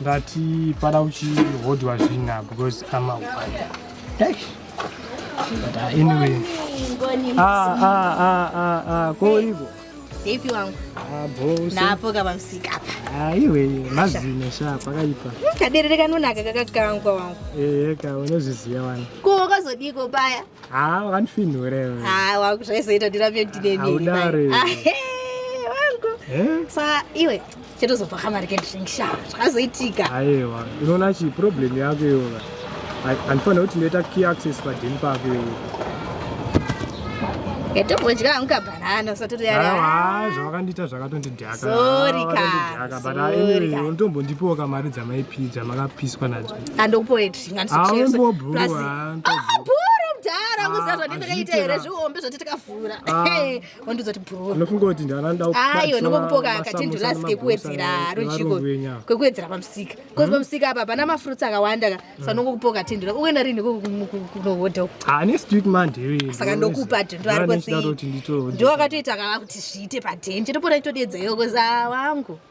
ndati pada uchihodhwa zvina because ama but uh, anyway ah, ah, ah, ah, ah, koiko depi wangu ah, napo kavamusika apa ah, iwe mazino sha pakaipa kaderere kanonaka kakakangwa wangu ehe ka unozviziva wani ko wakazodiko paya Ah, wakandifinhure. Ah, wangu zvaizoita ndirambe ndine nini. Audare. Ah, hey, wangu. Eh? Sa iwe chetozopa kamari kendrink sha. Zvakazoitika. Aiwa, unoona chi problem yako iwe. Andifanira kuti ndoita key access padhini pako iwe. Yatobodya hangu kabanana usati uri yari. Ah, zvakakandiita zvakatondidhaka. Sorry ka. Sorry ka. But anyway, unotombondipiwa kamari dzamaipi dzamakapiswa nadzo. Andokupoet. kwekuwedzera pamusika bcause hmm? pamusika apa pana mafruits akawanda ka hmm. sanongokupoka tindula uenda rini kunohodha saka ndokupa tindula arikoti ndiwakatoita kava kuti zviite padhenje topona itodedza yokoza wangu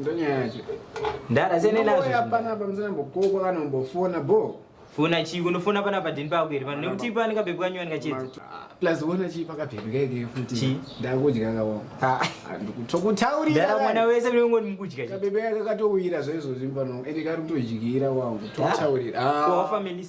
Ndonyaya yacho. Ndara sene nazvo. Hapana pamusana mbokoko kana mbofona bo. Fona chi unofona pana padini pako here pano nekuti ipa anika bebe kanyuwa nika chedza. Plus wona chi paka bebe kake futi. Chi ndakudya kawo. Ha. Ndikutokutaurira. Ndara mwana wese uri ngoni mukudya. Ka bebe kake katowira zvezo zvimbano. Ende kari kutojigira wangu. Totaurira. Ah. Ko family.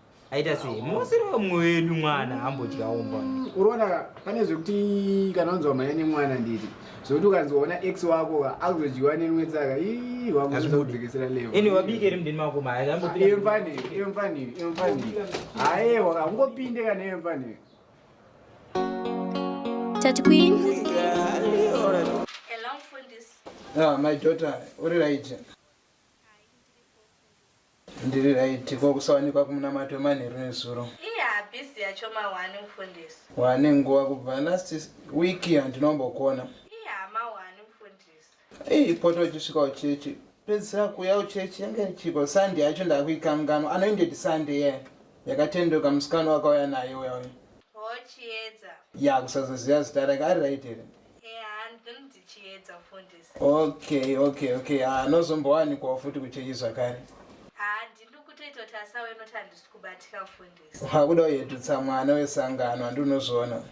aita sei musiri wemumwe wedu mwana ambodyawo mbwa Mm, unoona ka pane zvekuti kana unzwa mhanya nemwana nditi zvekuti ukanzoona ex wako ka akuzodyiwa nerimwe tsaka ii wangu Hazvibude. unozodzikisira level ini wabike iri mudeni mako maya iyo ambopira mfani iyo mfani iyo mfani ayewa ka ungopinde kana iyo mfani Tati Queen. Hello, Mfundisi. Ah, my daughter, uri right. Ndiri right ko kusawanikwa kumunamato wemanheru nezuro. Iye habhizi yacho mahwani mufundisi. Wane nguva kubva last week handinombokona. Iye hama hwani mufundisi. Iye poto uchisvika uchechi pedzisira kuuya uchechi yange ichiko Sunday yacho ndakuikanganwa anoinded Sunday yeah. Yakatendoka musikana wakauya nayo uya uya. Hochiedza. Ya kusazoziva zita rake ari right here. okay okay okay anozombowanikwawo ah, futi kuchechi zvakare hakuda uyedutsa mwana wesangano handinozviona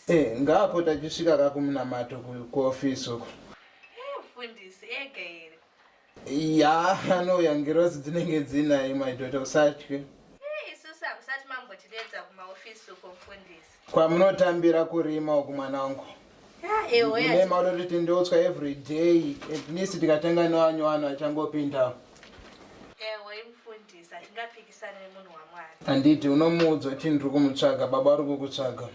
e eh, ngaapota achisvika kakumunamato kuofisi uko eh, Yaa anouya ngirozi dzinenge dzinaye my daughter usatye. Isusu hamusati mambotideedza kumaofisi uko mfundisi. Kwamunotambira kurima uku mwana wangu. Mune maudoti tindoutswa every day at least tikatanga newanyu wanu achangopindawo. Ewe mfundisi hatingapikisane nemunhu waMwari. Handiti unomuudza kuti ndiri kumutsvaga baba vari kukutsvaga.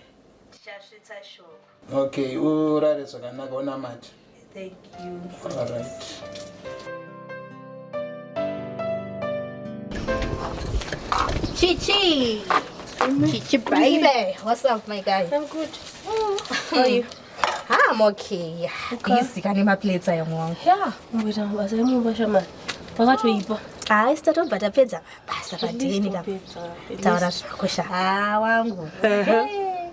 Tichasvitsa shoko. Okay, urare zvakanaka unamate. Thank you. All right. Chichi. Chichi baby. What's up my guy? I'm good. Mm. How are you? Ah, I'm okay. Okay. Busy kane ma plates ayo mwangu. Yeah, mbona basa yemu basha ma. Pakatoipa. Ah, haisi tatobva tapedza basa padini ka. Taura zvako sha. Ah, wangu. Hey.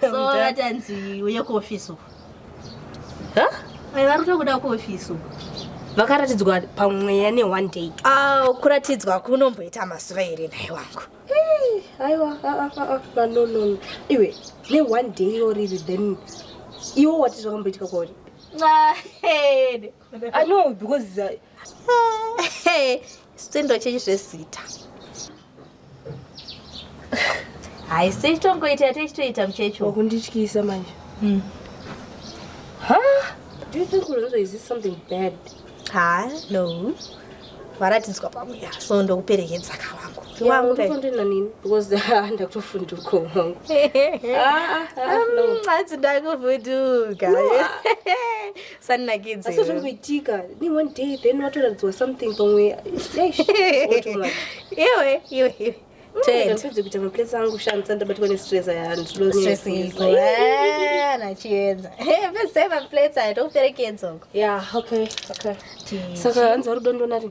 so vatanzi uye kuofisi uku vari tokuda kuofisi uku vakaratidzwa pamweya ne one day oh, kuratidzwa kunomboita mazuva here nhai wangu aiwa ah, ah, ah, nonono iwe ne one day iro riri then iwo wati zvakamboitika kwauri no because uh, sindo chenyu zvezita haisi itongoita yate ichitoita muchecho wakundityisa manje hmm. do you think unozo is this something bad ha no varatidzwa pamuya so ndokuperekedza kavangu ndina nini because ah, ndakutofunduka wangu ah, ah, um, hanzi ndakufunduka sanakidze asi zvingoitika ni one day then watoratidzwa something pamwe iwe iwe iwe ndapedze kuita maplace angu shandisa ndabatwa nestress ayanachiedza pese maplace aya tokuperekedzoko ya okay okay saka hanzi warudo ndonari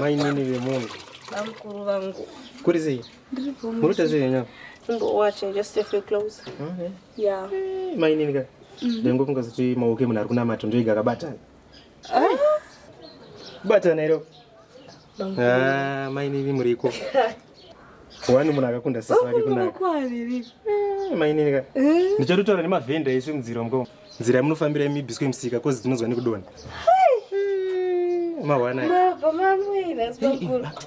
mainini vemunhu bamukuru vangu kuri sei murikuita sei nyama mainini ka ndangofunga kuti maoko emunhu ari kunamata ndoiga akabatana Bata nairo. Ah, mai nini muriko. Wani munhu akakunda sisi vake kunaka. Kwaaviri. Eh, mai nini ka. Eh? Ndichatotaura nemavhenda isu mudziro mko. Nzira yamunofambira imibiswe musika kozi tinonzwa nekudona. Hai. Eh, Mawana. Mabva mamwe ina sibakuru.